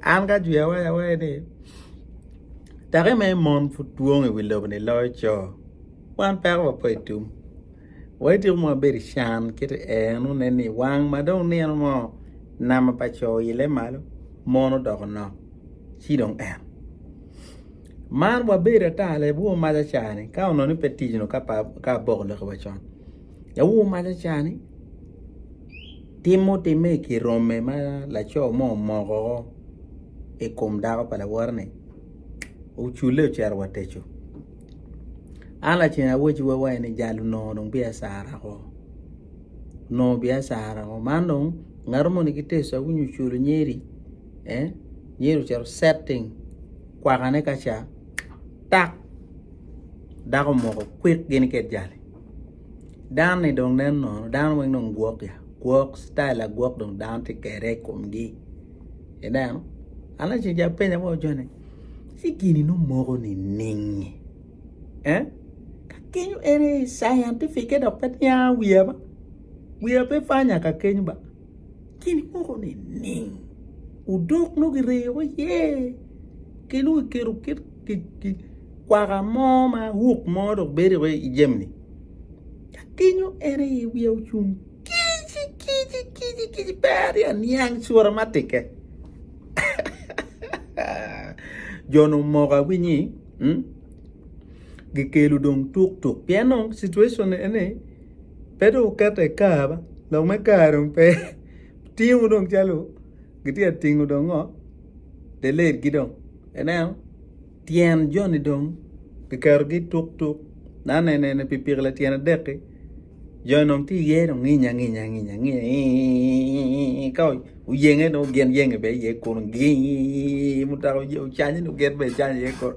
An ka ajwi awaya awaya ni take me mon pud dwong i wi lobo ni loyo co wan peko wa pe i tum wa ityeko ma wabedo i can kit en wun nen ni wang ma dong nino mo nama pa co oile malo mon odoko nok ci dong en Mar wabedo ata leb wor mac acani ka onongo ni pe ticno ka aboko lok wa con leb wor mac acani tim ma otime i kin rome ma laco mo omoko woko i kom dako pa lawote ni ocule ocito wa teco an lacen awaci wa wai ni jal onongo dong biacara ko onongo biacara ko man dong ngato moni ki teco nyo oculo nyedi eh nyedi ocito setting kwakane ka ca tak dako omoko kwik gini ki ejali dano ni dong nen nono dano weng dong gwok ya gwok citayel agwok dong dano tye kede i komgi ineno an nongo ceng ca apenyo bot jo ni ci gini nongo moko nining-nyi ka kenyo en aye scientific-ke dok pe niang wiya ba wiya pe panya ka keny ba. Kiny moko nining? Odok nongo gireyo iye ki nongo giketo kit kwaka mo ma hook mo dok bedo iye i jami-ni. Ka kinyo en aye i wiye ocung kic kic kic kic pe atye ka niang cura ma tikke. Jo nongo omoko awinyi gikelo dong tuktuk pien nongo situation eni Pe dong wuketa i kar ma lok me kar dong pe tingo dong calo gitye ka tingo dong ngo delayed gi dong ineno tyen joni dong kiketo gi tuk tuk nane nene pikipiki latyena adek ki joni dong tye iye dong nginya anginya nginya iiii ka oyenge dong gin yenge bene iye kunu giiiii mutoka ocanye dong gin bene icanya iye kunu.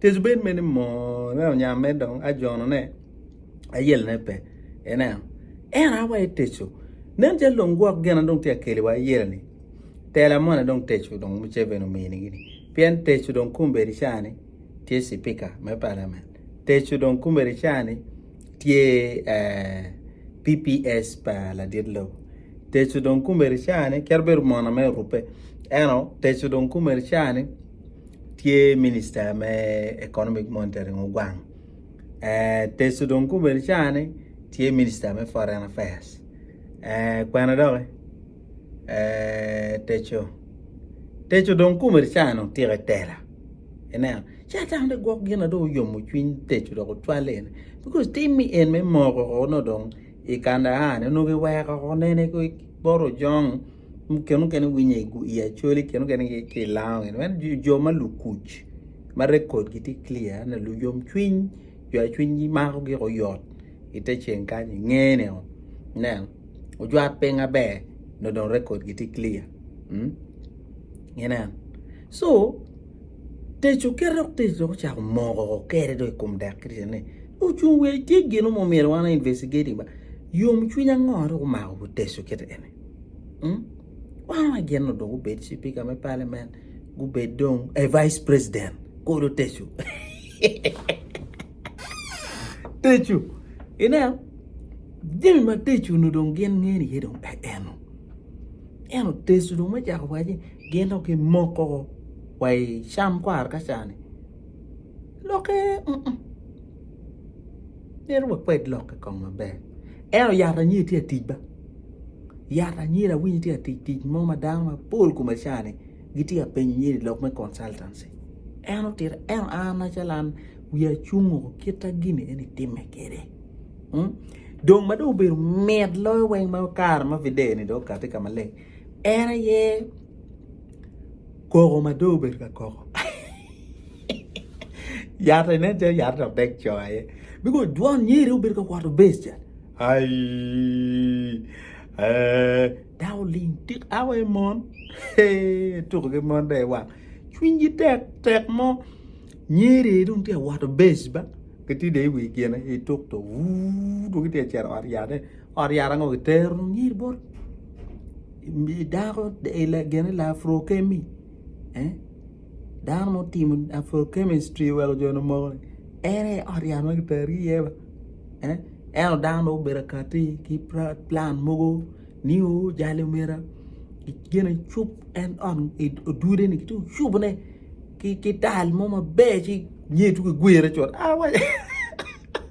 Tezobel mene moone onyamme dong ajonone ayelone pe. Ineno, ento an wa eteco. Nen calo dong gwok gina dong tye ka keli wa ayelani. Tela moni dong teco dong Museveni omini gini. Pien teco dong kumbedi cani tye sipika me palamen. Teco dong kumbedi cani tye eh, PPS pa ladit lobo. Teco dong kumbedi cani kit bedo mono me orube. Eno, teco dong kumbedi cani. tye minister me economic monitoring ogwang teco dong gubedo caa ni tye minister me foreign affairs kwena dok ki teco teco dong gubedo caa ni otyeko i tela ineno ci atamo ni gwok gin na dong oyomo cwiny teco dok ocwale eni because tim ni en me moko nongo dong i Kandahar ni onongo kiweko woko nene ki bot ojong muken mukene winye i acholi muken mukene ki i lango gini wek jo ma lukuc ma record gi tye clear ni luyom cwiny jo ma cwinygi mako gik oyot i te ceng kany i nge ni o nen ojwat piny maber nyo dong record gi tye clear inen so tic oketo dok tic dong ocako moko kede dong i kom dek kristo ni Ocung wek tye gino mo myero wan investigate ba yom cwiny ango dok omako buteco kit eni hmm? wan wa gin no dong gubed cipika me parliament gubed dong eh, vice president kodo teco teco ineno jami ma teco nu dong gin ngeni ye dong eh, eh, no eno teco dong me cako waci gin dong gimoko wa i cam kwar ka cani Lokke uu, myero wakwed lokke kong maber. Ento yat anyira tye ka tic ba, yat anyira awinyo tye ka tic tic mo ma dano mapol kome cani gitye ka penyo nyero i lok me consultancy. En otito ento an macalo an wiya cung oo kita gini eni timme kwede uu, dong ma dong obedo mit loyo weng ma kare ma video ni dong okati ka maleng. En aye koko ma dong obedo ka koko. Yat eni nen calo yat dok dek co aye. Biko dwon nyeri obedo ka kwato bes ca. Ai. Eh, dako ling tik awa i mon. Tuko ki mon dai wang. Cwinygi tek tek mo. Nyeri dong tye awato bes ba. Gitye dai i wi gine i tuk to. Wuu, dong gitye acero ot yat. Ot yat ango gitero nyi bot dako gine lapro kemi eh dano ma otimo lapro kemistri oweko jo ni omoko ni en aye ot yat ma gitero gi iye ba eh ento dano dong obedo kati ki plan mogo ni o jali omyero gine cub en ot odude ni giti cubu ne ki tal mo maber ci nyeyo ci gigwire cut awaci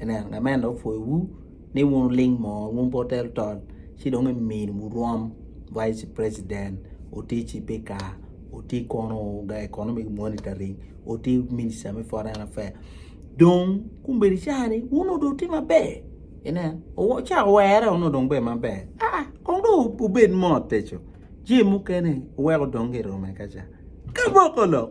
Ineno, ngat ma en dong opwoyowu ni wun wuling mo, wun pe wutel tol, ci dong imini wurwom Vice President, wuti Cipika, wuti kono ga Economic Monitoring, wuti Minista me Foreign Affairs. Dong kombeddi ca ni wun onongo dong wutye maber. Ineno, owo- ca owerre onongo dong bedo maber. Aa, kong dong wu- wubed mot eco. Jami mukene wuweko dong girome kaca. Kaboko lok!